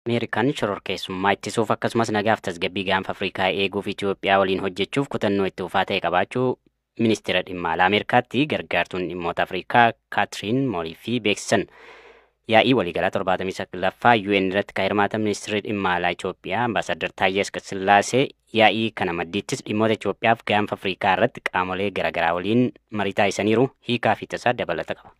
Ameerikaan shororkeessummaa ittisuuf akkasumas nagaaf tasgabbii gaanfa Afrikaa eeguuf Itoophiyaa waliin hojjechuuf kutannoo itti fufaa ta'e qabaachuu Ministeera Dhimma Alaa Ameerikaatti gargaartuun dhimmoota Afrikaa Kaatiriin Mooliifii beeksisan. Yaa'ii waliigalaa 79ffaa UN irratti kan hirmaatan Ministeerri Dhimma Alaa Itoophiyaa Ambaasaaddar Taayyee Asqasillaasee yaa'ii kana maddiittis dhimmoota Itoophiyaaf gaanfa Afrikaa irratti qaamolee garaagaraa waliin marii taasisaniiru hiikaa fi tasaa dabalata qaba.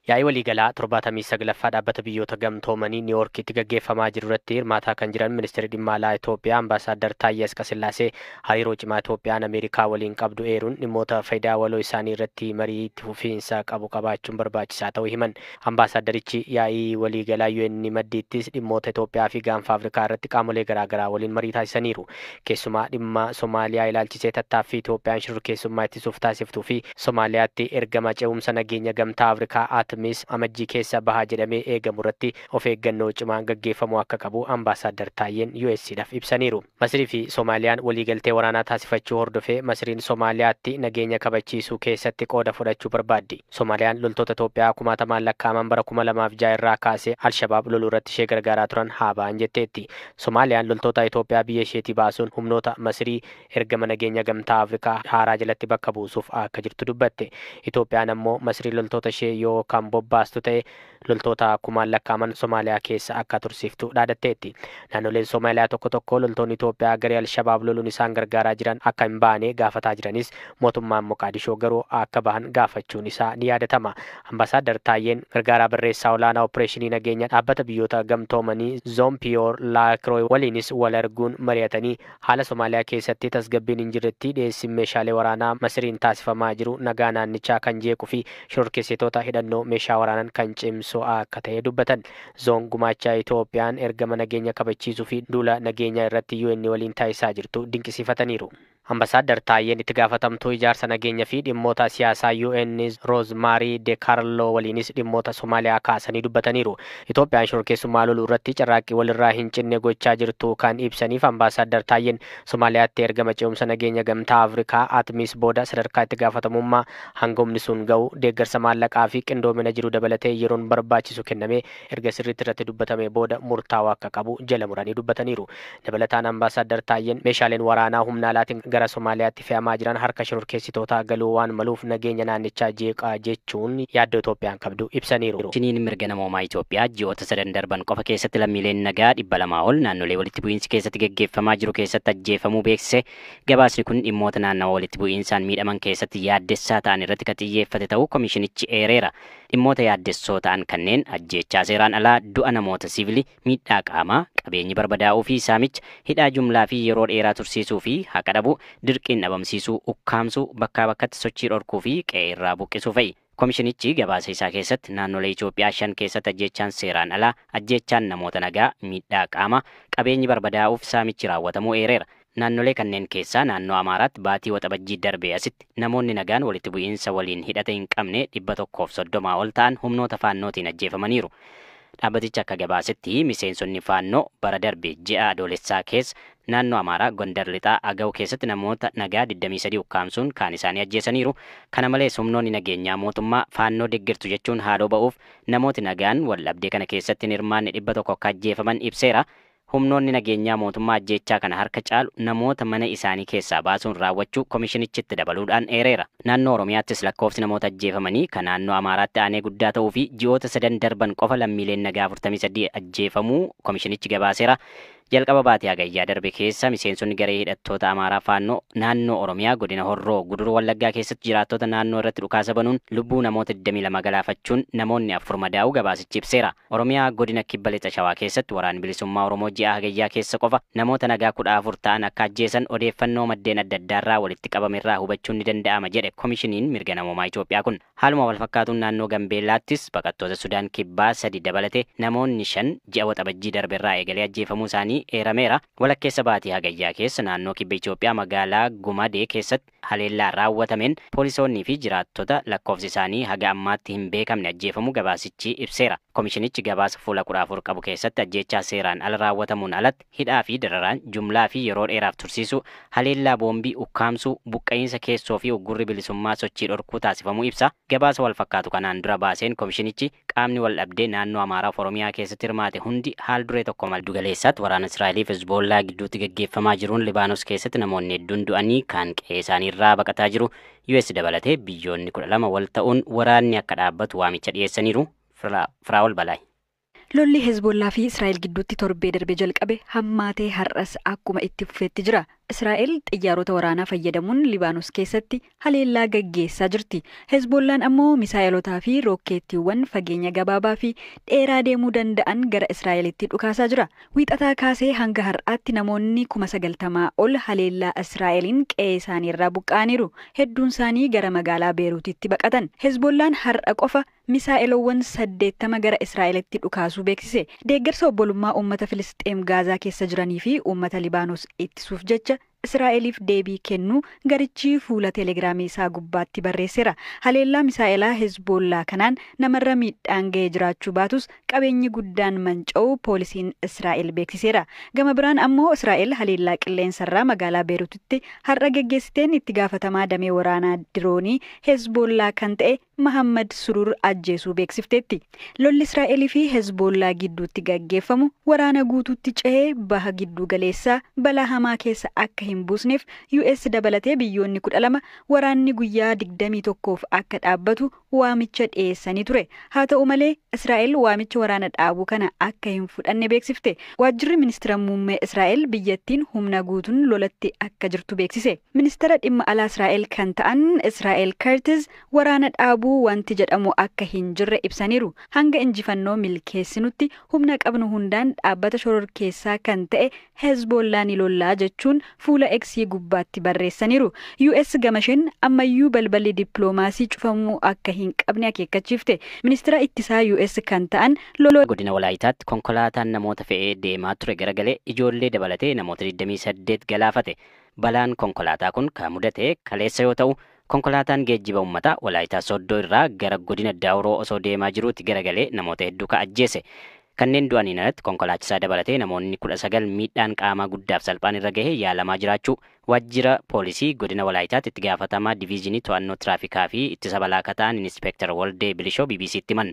Yaa'ii waliigalaa 79ffaa Dhaabbata Biyyoota Gamtoomanii Niiwoorkiitti gaggeeffamaa jirurratti hirmaataa kan jiran Ministirri Dhimma Alaa Itoophiyaa Ambaasaaddar Taayyee Asqasillaasee hariiroo cimaa Itoophiyaan Ameerikaa waliin qabdu eeruun dhimmoota fayidaa waloo isaanii irratti marii itti fufiinsa qabu qabaachuun barbaachisaa ta'uu himan. Ambaasaaddarichi yaa'ii waliigalaa UN maddiittis dhimmoota Itoophiyaa fi Gaanfa Afrikaa irratti qaamolee garaa garaa waliin marii taasisaniiru. Keessumaa dhimma Somaaliyaa ilaalchisee tattaaffii Itoophiyaan shororkeessummaa ittisuuf taasiftuu fi Somaaliyaatti ergama ce'umsa nageenya Gamtaa Afrikaa ATMIS Amajjii keessa baha jedhamee eegamurratti of eeggannoo cimaan gaggeeffamuu akka qabu Ambaasaaddar Taayyeen US dhaf ibsaniiru. Masrii fi Somaaliyaan waliigaltee waraanaa taasifachuu hordofee Masriin Somaaliyaatti nageenya kabachiisuu keessatti qooda fudhachuu barbaaddi. Somaaliyaan loltoota Itoophiyaa kumaatamaan lakkaa'aman bara 2006 irraa kaasee Al-Shabaab loluurratti ishee gargaaraa turan haa ba'an jetteetti. Somaaliyaan loltoota Itoophiyaa biyya isheetii baasuun humnoota Masrii ergama nageenya Gamtaa Afrikaa haaraa jalatti bakka buusuuf akka jirtu dubbatte. Itoophiyaan ammoo Masrii loltoota ishee yoo kan bobbaastu ta'e loltoota kumaan lakkaa'aman Somaaliyaa keessa akka tursiiftu dhaadatteetti. Naannoleen Somaaliyaa tokko tokko loltoonni Itoophiyaa garee Al-Shabaab loluun isaan gargaaraa jiran akka hin baane gaafataa jiranis mootummaan Moqaadishoo garuu akka bahan gaafachuun isaa ni yaadatama. Ambaasaaddar Taayyeen gargaaraa barreessaa olaanaa oppireeshinii nageenya Dhaabbata Biyyoota Gamtoomanii Zoon Piyoor Laakirooy waliinis wal arguun mari'atanii Haala Somaaliyaa keessatti tasgabbiin hin jirretti dhiyeessiin meeshaalee waraanaa Masiriin taasifamaa jiru nagaa naannichaa kan jeequ fi shororkeessitoota hidhannoo meeshaa waraanan kan cimsu akka ta'e dubbatan. Zoon gumaacha Itoophiyaan ergama nageenya kabachiisuu fi duula nageenyaa irratti UN waliin taasisaa jirtu dinqisiifataniiru. Ambasaaddar Taayyeen itti gaafatamtuu ijaarsa nageenya fi dhimmoota siyaasaa UN Roozmaarii Dekaarloo waliinis dhimmoota Somaaliyaa kaasanii dubbataniiru. Itoophiyaan shororkeessummaa loluu irratti carraaqqii walirraa hin cinne gochaa jirtuu kan ibsaniif Ambaasaaddar Taayyeen, Somaaliyaatti ergama ce'umsa nageenya Gamtaa Afrikaa, Atmis, booda sadarkaa itti gaafatamummaa hanga humni sun ga'u, deeggarsa maallaqaa fi qindoomina jiru dabalatee yeroon barbaachisu kennamee erga sirriitti irratti dubbatamee booda murtaa'uu akka qabu jala muranii dubbataniiru. Dabalataan Ambaasaaddar Taayyeen meeshaaleen waraanaa humna alaatiin gara Somaaliyaatti fe'amaa jiran harka shororkeessitootaa galuu waan maluuf nageenya naannichaa jeeqa jechuun yaaddoo Itoophiyaan qabdu ibsaniiru. Komishiniin Mirga Namoomaa Itoophiyaa ji'oota sadan darban qofa keessatti lammiileen nagaa 200 ol naannolee walitti bu'iinsi keessatti gaggeeffamaa jiru keessatti ajjeefamuu beeksise. Gabaasni kun dhimmoota naannawa walitti bu'iinsaan miidhaman keessatti yaaddessaa ta'an irratti kan xiyyeeffate ta'uu komishinichi eereera. Dhimmoota yaaddessoo ta'an kanneen ajjeechaa seeraan alaa, du'a namoota siivilii, miidhaa qaamaa, qabeenyi barbadaa'uu fi saamicha, hidhaa jumlaa fi yeroo dheeraa tursiisuu fi haqa dhabuu, dirqiin dhabamsiisuu, ukkaamsuu, bakkaa bakkatti sochii dhorkuu fi qe'ee irraa buqqisuu fa'i. Komishinichi gabaasa isaa keessatti naannolee Itoophiyaa shan keessatti ajjeechaan seeraan alaa, ajjeechaan namoota nagaa, miidhaa qaamaa, qabeenyi barbadaa'uuf saamichi raawwatamuu eereera. Naannolee kanneen keessaa naannoo Amaaraatti baatii Waxabajjii darbee asitti namoonni nagaan walitti bu'iinsa waliin hidhata hin qabne 130 ol ta'an humnoota Faannootiin ajjeefamaniiru. Dhaabbatichi akka gabaasetti miseensonni Faannoo bara darbe ji'a Adoolessaa keessa naannoo Amaaraa Gondar Lixaa Agaw keessatti namoota nagaa 23 ukkaamsuun kaan isaanii ajjeesaniiru. Kana malees humnoonni nageenyaa mootummaa Faannoo deggertu jechuun haaloo ba'uuf namooti nagaan waldhabdee kana keessatti hin hirmaanne 100 akka ajjeefaman ibseera. Humnoonni nageenyaa mootummaa ajjeechaa kana harka caalu namoota mana isaanii keessaa baasuun raawwachuu komishinichi itti dabaluudhaan eereera. Naannoo Oromiyaattis lakkoofsi namoota ajjeefamanii ka naannoo Amaaraatti aanee guddaa ta'uu fi ji'oota sadan darban qofa lammiileen nagaa 43 ajjeefamuu komishinichi gabaaseera. Jalqaba baatii Hagayyaa darbe keessa miseensonni garee hidhattoota Amaaraa Faannoo naannoo Oromiyaa godina Horroo Guduruu Wallaggaa keessatti jiraattota naannoo irratti dhukaasa banuun lubbuu namoota 22 galaafachuun namoonni 4 madaa'uu gabaasichi ibseera. Oromiyaa Godina Kibba Lixa Shawaa keessatti Waraanni Bilisummaa Oromoo ji'a Hagayyaa keessa qofa namoota nagaa 14 ta'an akka ajjeesan odeeffannoo maddeen adda addaarraa walitti qabame irraa hubachuun ni danda'ama jedhe Komishiniin Mirga Namoomaa Itoophiyaa kun. Haaluma walfakkaatuun naannoo Gambeellaattis baqattoota Sudaan Kibbaa sadi dabalatee namoonni shan ji'a Waxabajjii darbe irraa eegalee ajjeefamuu isaanii eerameera. Walakkeessa baatii Hagayyaa keessa naannoo Kibba Itoophiyaa magaalaa Gumadee keessatti Haleellaa raawwatameen poolisoonnii fi jiraattota lakkoofsi isaanii haga ammaatti hin beekamne ajjeefamuu gabaasichi ibseera. Komishinichi gabaasa fuula 14 qabu keessatti ajjeechaa seeraan ala raawwatamuun alatti hidhaa fi dararaan jumlaa fi yeroo dheeraaf tursiisuu, haleellaa boombii ukkaamsuu, buqqa'iinsa keessoo fi uggurri bilisummaa sochii dhorkuu taasifamuu ibsa. Gabaasa walfakkaatu kanaan dura baaseen komishinichi, Qaamni waldhabdee naannoo Amaaraaf Oromiyaa keessatti hirmaate hundi haal duree tokko malee. Giddu galeessaatti waraana Israa'eliif Hezboollaa gidduutti gaggeeffamaa jiruun Libaanos keessatti namoonni hedduun du'anii kaan qe'ee isaanii irraa baqataa jiru. US dabalatee biyyoonni 12 wal ta'uun waraanni akka dhaabbatu waamicha dhiyeessaniiru. Firaa'ol Balaay. Lolli Hezboollaa fi Israa'el gidduutti torbee darbe jalqabe hammaatee har'as akkuma itti fufeetti jira. Israa'el xiyyaarota waraanaa fayyadamuun Libaanos keessatti haleellaa gaggeessaa jirti. Hezboollaan ammoo misaa'elotaa fi rookkeettiiwwan fageenya gabaabaa fi dheeraa deemuu danda'an gara Israa'elitti dhukaasaa jira. Wiixataa kaasee hanga har'aatti namoonni kuma 90 ol haleellaa Israa'eliin qe'ee isaaniirraa buqqa'aniiru. Hedduunsaanii gara magaalaa Beeruutitti baqatan. Hezboollaan har'a qofa misaa'eloowwan 80 gara Israa'elitti dhukaasuu beeksise. Deeggarsa obbolummaa uummata Filisxeem Gaazaa keessa jiranii fi uummata Libaanos ittisuuf jecha Israa'eliif deebii kennu garichi fuula Telegiraamii isaa gubbaatti barreesseera. Haleellaa misaa'elaa Hezboollaa kanaan namarra miidhaan ga'ee jiraachuu baatus qabeenyi guddaan manca'uu poolisiin Israa'el beeksiseera. Gama biraan ammoo Israa'el haleellaa qilleensarraa magaalaa Beerutitti har'a geggeessiteen itti gaafatamaa damee waraanaa diroonii Hezboollaa kan ta'e Mahaammad Suruur ajjeesuu beeksifteetti. Lolli Israa'el fi Hezboollaa gidduutti gaggeeffamu waraana guutuutti cehee Baha Gidduu Galeessaa balaa hamaa keessa akka hin buusneef US dabalatee biyyoonni 12 waraanni guyyaa 21f akka dhaabbatu waamicha dhiyeessanii ture. Haa ta'u malee, Israa'el waamicha waraana dhaabuu kana akka hin fudhanne beeksifte. Waajjirri Ministira Muummee Israa'el biyyattiin humna guutuun lolatti akka jirtu beeksise. Ministara Dhimma Alaa Israa'el kan ta'an Israa'el Kertiz, waraana dhaabuu wanti jedhamu akka hin jirre ibsaniiru. Hanga injifannoo milkeessinutti humna qabnu hundaan dhaabbata shororkeessaa kan ta'e Hezboollaa ni lollaa jechuun fuula X gubbaatti barreessaniiru. US gamasheen ammayyuu balballi dippiloomaasii cufamuu akka hin qabne akeekkachiifte. Ministira Ittisaa US kan ta'an Lord. Godina Walaayitaatti konkolaataan namoota fe'ee deemaa ture garagalee ijoollee dabalatee namoota 28 galaafate. Balaan konkolaataa kun kan mudate kaleessa yoo ta'u, Konkolaataan geejjiba ummataa Walaayitaa Sooddoo irraa gara godina Daawuroo osoo deemaa jiruuti garagalee namoota hedduu ka ajjeese. Kanneen du'aniin alatti konkolaachisaa dabalatee namoonni 19 miidhaan qaamaa guddaaf salphaan irra gahee yaalamaa jiraachuu Waajjira Poolisii Godina Walaayitaatti Itti Gaafatamaa Diviizhinii To'annoo Tiraafikaa fi Ittisa Balaa ka ta'an Inispeektar Waldee Bilishoo BBC'tti himan.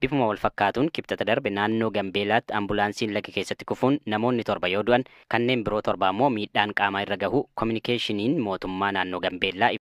Bifuma walfakkaatuun Kibxata darbe naannoo Gambeelaatti ambulaansiin laga keessatti kufuun namoonni torba yoo du'an kanneen biroo torba ammoo miidhaan qaamaa irra gahuu kominikeeshiniin mootummaa naannoo Gambeellaa